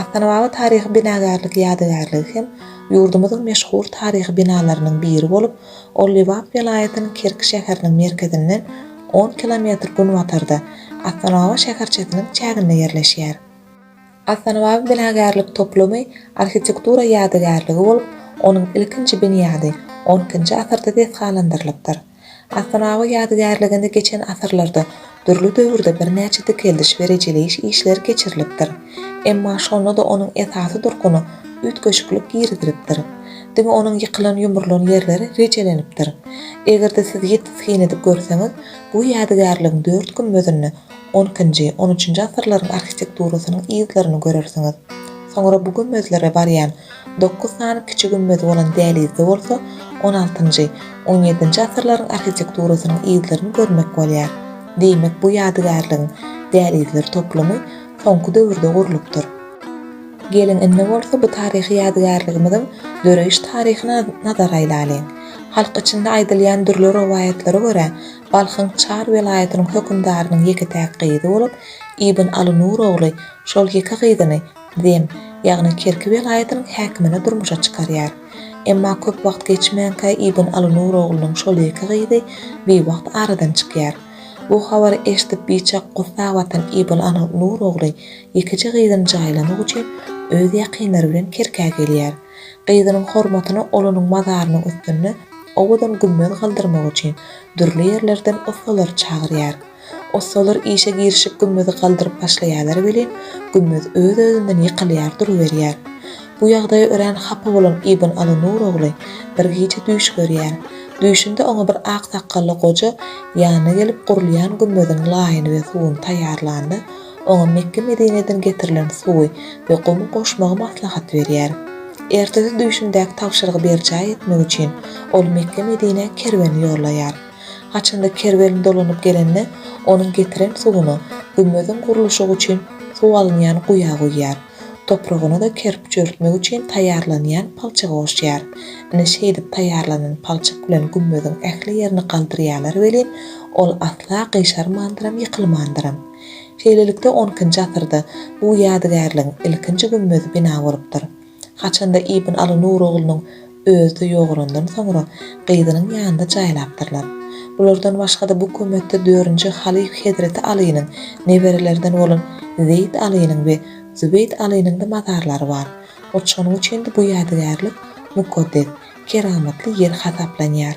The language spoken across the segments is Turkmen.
Astanababa taryhy binagärlik ýadygärligi hem ýurdumyzyň meşhur taryhy binalarynyň biri bolup, ol Lebap welaýatynyň Kerki şäheriniň merkezinden on kilometr günbatarda, Astanababa şäherçesiniň çäginde ýerleşýär. Astanababa binagärlik toplumy arhitektura ýadygärligi bolup, onuň ilkinji binýady on ikinji asyrda desgalandyrylypdyr. Asyrawa ýadygärliginde geçen asyrlarda dürli döwürde birnäçe dikeldiş we rejeleýiş işleri geçirilipdir. Emma şonda-da onuň esasy durkuna üýtgeşiklik girizilipdir. Diňe onuň ýykylan-ýumrulan ýerleri rejelenipdir. Eger-de siz ýiti syn edip görseňiz, bu ýadygärligiň dört gümmezinde onkinji, on üçünji asyrlaryň arhitekturasynyň yzlaryny görersiňiz. Soňra bu gümmezlere barýan Dokuz sany kiçi gümmezi bolan dälizde bolsa on altynjy, on ýedinji asyrlaryň arhitekturasynyň yzlaryny görmek bolýar. Diýmek bu ýadygärligiň, dälizler toplumy soňky döwürde gurlupdyr. Geliň indi bolsa bu taryhy ýadygärligimiziň döreýiş taryhyna nazar aýlalyň. Halk içinde aýdylýan dürli rowaýatlara görä, Balhyň Çar welaýatynyň hökümdarynyň ýeke-täk gyzy bolup, Ibn Aly Nur ogly şol ýeke gyzyny Zem, ýagny Kerki welaýatynyň häkimini durmuşa çykarýar. Emma köp wagt geçmänkä Ibn Alynur oglunyň şol ýeke gyzy biwagt aradan çykýar. Bu habary eşidip biçak gussa batan Ibn Alynur ogly ýekeje gyzyny jaýlamak üçin öz ýakynlary bilen Kerkä gelýär. Gyzynyň hormatyna ol onuň mazarynyň üstünde owadan gümmez galdyrmak üçin dürli ýerlerden ussalary çagyrýar. Ussalar işe girişip gümmezi galdyryp başlaýarlar welin, gümmez öz-özünden ýykylýar duruberýär. Bu ýagdaýa örän hapa bolan Ibn Aly Nur ogly bir gije düýş görýär. Düýşünde oňa bir ak sakgally goja ýanyna gelip gurulýan gümmeziň laýyny we suwuny taýýarlanda, oňa Mekge-Medineden getirilen suwy we gumy goşmagy maslahat berýär. Ertesi düýşündäki tabşyrygy berjaý etmek üçin ol Mekge-Medinä kerwen ýollaýar. Haçanda kerwen dolanyp gelende, onuň getiren suwuny gümmeziň gurluşygy üçin suw alynýan guýa guýýar. Topragyna-da kerpiç örtmek üçin taýýarlanýan palçygy goşýar. Ine, şeýdip taýýarlanan palçyk bilen gümmeziň ähli ýerini galdyrýarlar welin, ol asla gyşarmandyram, ýykylmandyram. Şeýlelikde, onkinji asyrda bu ýadygärligiň ilkinji gümmezi bina bolupdyr. Haçanda Ibn Aly Nur oglunyň özi ýogalandan soňra, gyzynyň ýanynda jaýlapdyrlar. Bulardan başga-da bu kömetde dördünji halyf hezreti Alynyň neberelerinden bolan Zeýd Alynyň we Zübeýd Alynyň-da mazarlary bar. Hut şonuň üçin-de bu ýadygärlik mukaddes, keramatly ýer hasaplanýar.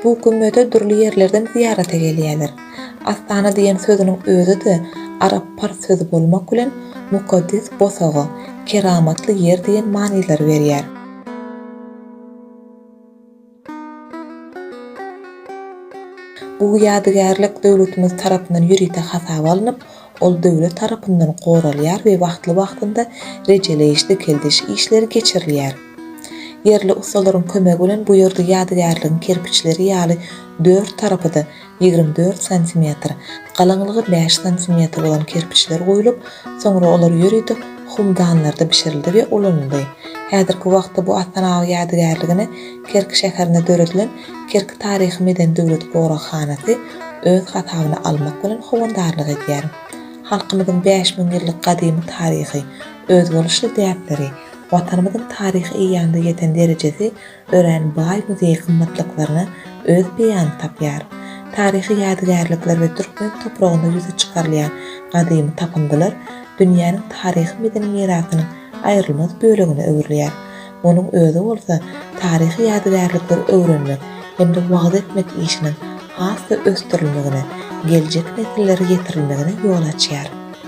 Bu gümmeze dürli ýerlerden zyýarata gelýärler. Astana diýen sözüniň özi-de arap-pars sözi bolmak bilen mukaddes bosaga, keramatly ýer diýen manylary berýär. Bu ýadygärlik döwletimiz tarapyndan ýörite hasaba alnyp, ol döwlet tarapyndan goralýar we wagtly-wagtynda rejeleýiş-dikeldiş işleri geçirilýär. Ýerli ussalaryň kömegi bilen bu ýerde ýadygärligiň kerpiçleri ýaly dört tarapy-da ýigrimi dört santimetr, galaňlygy bäş santimetr bolan kerpiçler guýlup, soňra olar ýörite humdanlarda bişirildi we ulanyldy. Häzirki wagtda bu Astanag ýadygärligini Kerki şäherinde döredilen Kerki taryhy-medeni döwlet goraghanasy öz hasabyna almak bilen howandarlyk edýär. Halkymyzyň bäş müň ýyllyk gadymy taryhy, özboluşly däpleri, Watanymyzyň taryhy eýýamda ýeten derejesi örän baý muzeý gymmatlyklaryna öz beýanyny tapýar. Taryhy ýadygärlikler we türkmen topragynda ýüze çykarylýan gadymy tapyndylar dünýäniň taryhy-medeni mirasynyň aýrylmaz bölegine öwrülýär. Munuň özi bolsa taryhy ýadygärlikleri öwrenmek hem-de wagyz etmek işiniň has-da ösdürilmegine, geljek nesillere ýetirilmegine ýol açýar.